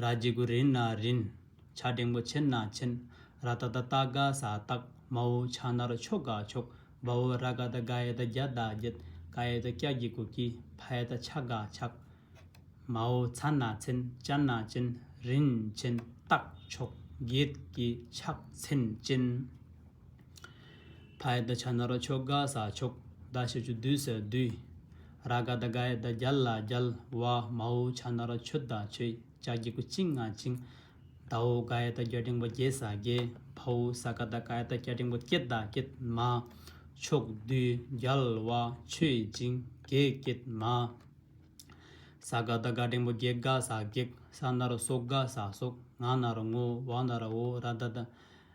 ར་རྗེ་གུ་རིན་ན་རིན། བྱ་སྒྲེང་པོ་ཆེན་ན་ཆེན། ར་ཏཱ་ཏཱ་སྟག་ག་ས་སྟག། མ་འོ་བྱ་ནར་ཕྱོགས་ག་ཕྱོགས། བ་འོ་ར་ག་ད་ག་ཡ་ད་རྒྱ་ད་རྒྱལ། ཀ་ཡ་ད་ཀྱ་ཀྱི་གུ་ཀྱི། ཕ་ཡ་ད་ཕྱག་ག་ཕྱག། མ་འོ་ཚ་ན་ཚན་ཅ་ན་ཅན། རིན་ཆེན་སྟག་ཕྱོགས་རྒྱལ་གྱི་ཕྱག་མཚན་ཅན། ཕ་ཡི་ད་ཆ་ན་རོ་ཆོ་ག་ས་ཆོག་ད་ཤི་ཆུ་བསྡུས་ཟེར་བསྡུས། ར་ག་ད་ག་ཡི་ད་རྒྱལ་ལ་རྒྱལ་བ་མ་ཨུ་ཆ་ན་རོ་ཆོས་ད་ཆོས་ཅག་རྒྱལ་ཀུ་བཅིང་ང་བཅིང། ད་ཨུ་ག་ཡི་ད་རྒྱལ་འབྲིང་པོ་རྒྱལ་ས་རྒྱལ་ཕ་ཨུ་ས་ག་ད་ག་ཡི་ད་རྒྱལ་འབྲིང་པོ་སྐྱེད་ད་སྐྱེད་མ། ཆོག་བསྡུས་རྒྱལ་བ་ཆོས་བཅིང་རྒྱལ་སྐྱེད་མ། ས་ག་ད་ག་འབྲིང་པོ་སྒེག་དགའ་ས་སྒེག་ས་ན་རོ་སྲོག་དགའ་ས་སྲོག་ང་ན་རོ་ངོ་བོ་ན་རོ་ཨོ་ར་ད་ད།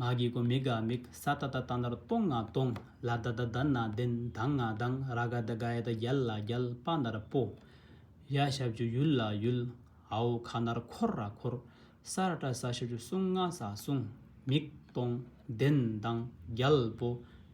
ངག་གི་སྒོ་མིག་ག་མིག་ས་ཏྭ་ཏྭ་ཏནྟར་སྟོང་ང་སྟོང། ལ་ད་ད་དན་ན་དན་དང་ང་དང་ར་ག་ད་གཡ་ད་རྒྱལ་ལ་རྒྱལ་སྤ་ནར་སྤོ། ཡ་ཞབས་ཀྱུ་ཡུལ་ལ་ཡུལ། ཨའོ་ཁ་ནར་འཁོར་ར་འཁོར། ས་ར་ཏྲ་ས་ཞབས་ཀྱུ་སྲུང་ང་ས་སྲུང། མིག་སྟོང་དན་དང་རྒྱལ་སྤོ།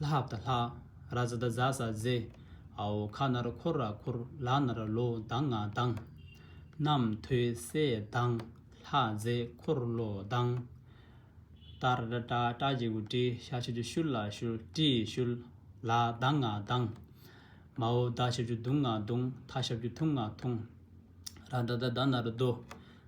ལྷ་ཧབ་ད་ལྷ། ར་ཛ་ད་ཛ་ཟ་ཛེ། ཨའོ་ཁ་ན་ར་འཁོར་ར་ཁུར་ལ་ན་ར་ལོ་དང་ང་དང། རྣམ་ཐོས་སྲས་དང་ལྷ་ཛེ་འཁོར་ལོ་དང། ཏར་ར་ཏྲ་ཏྲ་རྗེ་གུ་ཏྲི་ཤ་ཆུ་ཆུ་ཤུར་ལ་ཤུར་ཏྲི་ཤུར། ལ་དང་ང་དང། མ་ཨོ་ད་ཤ་ཆུ་དུང་ང་དུང་ཐ་ཤ་བྱུ་ཐུང་ང་ཐུང། ར་ད་ད་ད་ན་ར་རྡོ།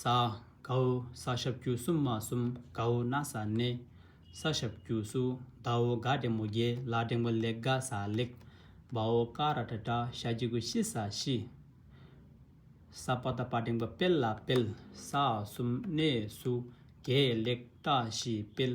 ས་གའུ་ས་ཞབས་ཀྱུ་གསུམ་མ་གསུམ་གའུ་ན་ས་ནི། ས་ཞབས་ཀྱུ་སུ་ཟླ་འོ་ག་འབྲེང་མོ་རྒྱལ་ལ་འབྲེང་མོ་ལེགས་དགའ་ས་ལེགས། བ་འོ་ཀ་ར་བྲ་བྲ་ཤ་གྱི་གུ་ཤི་ས་ཤི། ས་པ་ད་པ་འབྲེང་པ་དཔལ་ལ་དཔལ། ས་གསུམ་གནས་སུ་རྒྱལ་ལེགས་བཀྲ་ཤིས་དཔལ།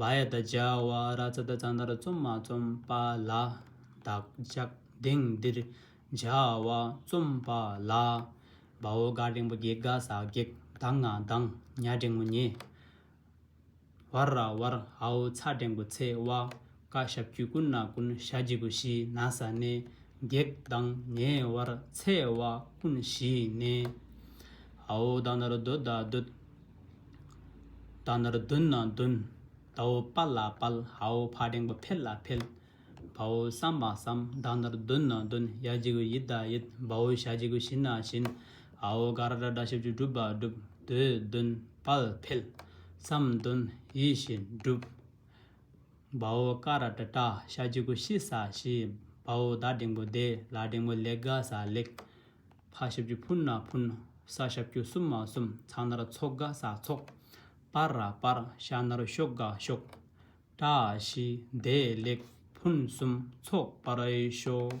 བ་ཡ་དང་བྱ་བ་ར་ཙ་དང་ཙང་ཏར་རྩོམ་མ་རྩོམ་པ་ལ་བདག་ཅག་དེང་འདིར་བྱ་བ་རྩོམ་པ་ལ་བ་འོ་ག་འབྲིང་པོ་བགེགས་དགའ་ས་བགེགས་དང་ང་དང་ཉ་འབྲིང་མོ་ཉེ་བར་ར་བར་ཧའོ་ཚ་འབྲིང་པོ་ཚེ་བ་ཀ་ཞབས་ཀྱུས་ཀུན་ན་ཀུན་ཞྭ་སྦྱི་བུ་བཞི་ན་ས་ནས་བགེགས་དང་ཉེ་བར་ཚེ་བ་ཀུན་བཞི་ནས་ཧའོ་དང་ནར་རྡོ་དང་རྡོ་ད་ནར་བདུན་ན་བདུན། ད་བོ་དཔའ་ལ་དཔལ། ཧའོ་ཕ་སྦྲེང་པོ་འཕེལ་ལ་འཕེལ། བ་བོ་བསམ་མ་བསམ། ད་ནར་བདུན་ན་བདུན། ཡ་གཅིག་གུ་ཡིད་ད་ཡིད། བ་བོ་ཞ་གཅིག་གུ་ཞིན་ན་ཞིན། ཧའོ་ག་ར་དྲ་དྲ་ཞབས་ཀྱིས་བསྒྲུབས་པ་བསྒྲུབས། དོས་བདུན། དཔལ་འཕེལ། བསམ་བདུན། ཡིད་བཞིན་འགྲུབ། བ་བོ་ཀ་ར་དྲ་དྲ་ཞ་གཅིག་གུ་ཤི་ས་ཤི། བ་བོ་ད་སྦྲེང་པོ་བདེ། ལ་སྦྲེང་པོ་ལེགས་དགའ་ས་ལེགས། ཕག་ཞབས་ཀྱུ་ཕུན་ནག་ཕུན། ས་ཞབས་ཀྱུ་སུམ་མ་སུམ་ཚག་ནར་ཚོགས་དགའ་ས་ཚོགས། སྤར་ར་སྤར་ཤ་ནར་ཤོག་དགའ་ཤོག། བཀྲ་ཤིས་བདེ་ལེགས་ཕུན་སུམ་ཚོགས་པར་ཨེ་ཤོག།